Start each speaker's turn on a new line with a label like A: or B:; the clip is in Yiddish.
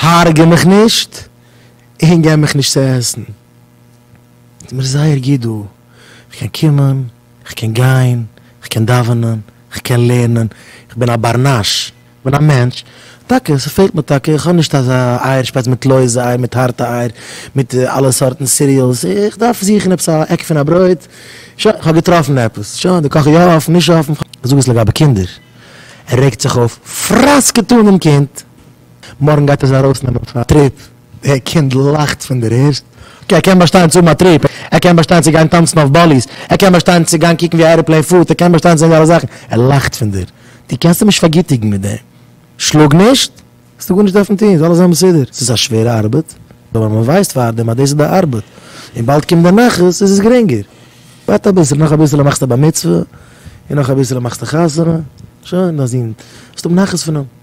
A: הרג'ע מיך נישט און גיב מיך נישט צו עסן. ס'איז מיר זייער גוט דא. כ'קען קומען, כ'קען גיין, כ'קען דאווענען, כ'קען לערנען, כ'בין א בר נש, כ'בין א מענטש. טאקע, ס'פעלט מיר טאקע, כ'האב נישט אזא אייער שפייז מיט לויזע אייער, מיט הארטע אייער, מיט אלע סארטן סיריעלס. איך דארף זוכן עפעס א עק פון א ברויט. שוין, כ'האב געטראפן עפעס. שוין, די קאך איז יא אפן, נישט אפן. זאג עס לגבי קינדער. ער רעגט זיך אויף, פראסקעט אן דעם קינד. מארגן גייט ער זיי ארויסנעמען פאר א טריפ, דער קינד לאכט פון דער ערשט, אקעי ער קען באשטיין צו האבן א טריפ, ער קען באשטיין צו גיין טאנצן אויף באליס, ער קען באשטיין צו גיין קוקן ווי א עראפלעין פארט, ער קען באשטיין צו זען די אלע זאכן, ער לאכט פון דיר, דו קענסט אים נישט פארגיטיגן מיט דעם, שלאג נישט, האסטו גארנישט דארפן טון, ס'זאל אלעס זיין מסודר, ס'איז א שווערע ארבעט, אבער מען ווייסט פארדעם אז דאס איז די ארבעט, און באלד קומט די נחת, איז עס גרינגער, ווארט אביסל, נאך אביסל מאכסטו א בר מצוה, און נאך אביסל מאכסטו חתונה, שוין, דיין זון, וועסט האבן נחת פון אים.